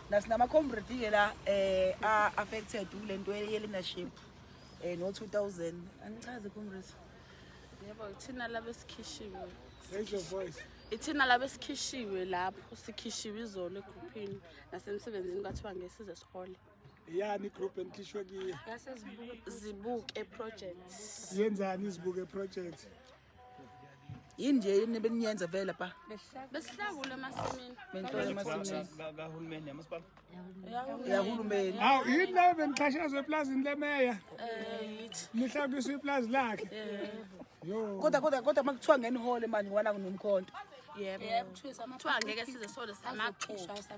nasinama-comrade-ke la eh a-affected kule nto ye-leadership eh no-2000 angichaze comrade yebo ithina laba esikhishiwe ithina laba esikhishiwe lapho sikhishiwe izolo egruphini nasemsebenzini kwathiwa ngesize sihole yani igroup enikhishwe kiyo zibuke project yenzani izibuke project yini nje yini beniyenza vele pa besihlakule emasimini bentolo emasimini kahulumeni yamasipala yahulumeni hawu yini leyo benixhashazwa eplazini lemeya eh, nihlakiswa iplazi lakhe eh. kodwa kodwa kodwa uma kuthiwa ngenihole mani wana kunomkhonto yebo kuthiwa ngeke size sole samaxoxa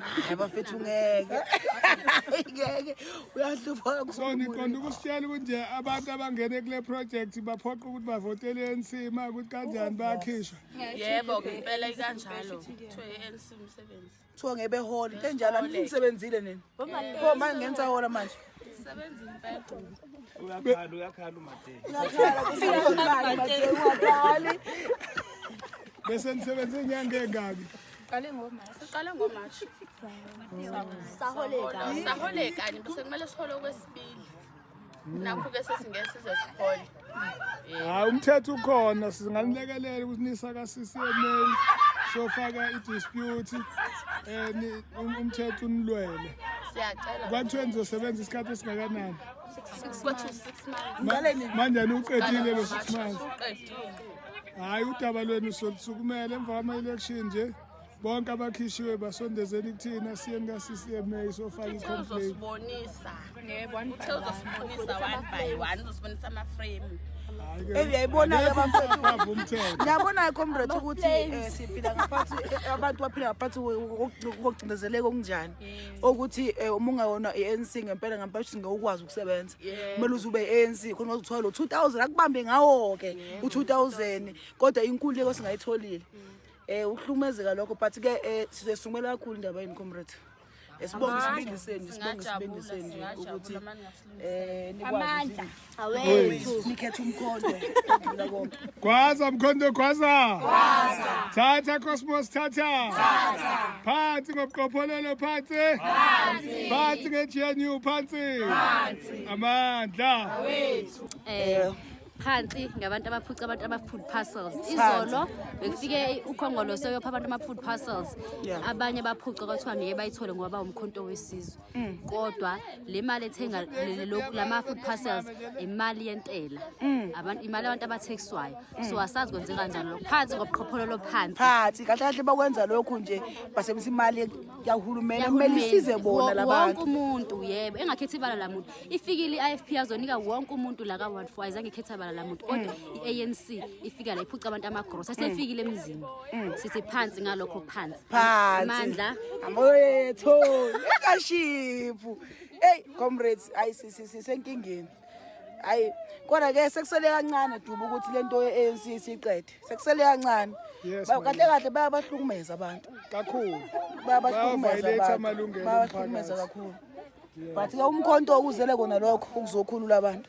hayi bafethu ngeke ngeke uyahlupha so niqonda ukusitshela ukuthi nje abantu abangene kule project baphoqa ukuthi bavotele ANC ma ukuthi kanjani bayakhishwa yebo ngempela ikanjalo kuthiwa ANC umsebenzi kuthiwa ngebe hall into enjalo anisebenzile nini pho manje ngenza hall manje sebenza impela uyakhala uyakhala umathe uyakhala umathe uyakhala bese nisebenza inyanga engaki Qale ngoMarch. Siqale ngoMarch. Saholeka. Saholeka ni bese kumele sihole okwesibili. Nakho ke sesingeke size sihole. Hayi umthetho ukhona singanilekelela ukuthi nisa ka CCMA sofaka i dispute eh um, umthetho unilwele. Siyacela. Kwathiwa nizosebenza isikhathi esingakanani? 6 months. Manje uqedile lo 6 months. Uqedile. hayi udaba lwenu solusukumela emva kwama-election nje bonke abakhishiwe basondezeni kuthina siyeni ka-ccma sofaka i-complainuzosibonisa one by one uzosibonisa amaframe eyi uyayibona-ke bafethu niyabona-ke comrade ukuthi um siphila ngaphansi eh, abantu baphila ngaphansi kokucindezeleka okunjani okuthi um uma ungawona i-anc ngempela ngempela ukuthi ngewukwazi sebenza kumele uze ube ANC khona uzothola lo 2000 akubambe ngawo ke u 2000 kodwa inkulu leko singayitholile mm. eh uhlumezeka lokho but ke eh, sizesumela kakhulu indaba yini comrade esibonga isibindiseni sibonga isibindiseni nje ukuthi eh nikwazi amandla awethu nikhethe umkhondo kudlula konke Gwaza mkhondo gwaza. Gwaza. Thatha Cosmos thatha. Thatha. Phansi ngobqopholelo phansi. Phansi. Phansi ngeGNU phansi. Phansi. Amandla. Awethu. Eh phansi ngabantu abaphuca abantu ama-food parcels izolo bekufike ukhongoloso yopha abantu ama-food parcels abanye baphuca kwathiwa ngeke bayithole ngoba bawumkhonto wesizwe Mm. kodwa le mali ethenga lama food parcels imali yentela mm. abantu imali abantu abathekiswayo mm. so asazi kwenzeka kanjani lokho phansi ngobuqhopholo lophansi phansi kahle kahle bakwenza lokho nje basebenzisa imali yahulumeni kumele isize bona labantu wonke umuntu yebo engakhethi ibala la muntu ifikile i-IFP yazonika wonke umuntu la ka 14 ayizange ikhetha ibala la muntu kodwa i-ANC ifika la iphuca abantu amagrosa sefikile emzini sithi phansi ngalokho phansi phansi amoyetho ekashiphu eyi comrades ayi sisenkingeni hayi kodwa ke sekusele kancane duba ukuthi lento ye-ANC siqede sekusele kancane kahle kahle bayabahlukumeza abantu kakhulu bayabahlukumeza abantu bayabahlukumeza kakhulu but ke umkhonto okuzele kona lokho ukuzokhulula abantu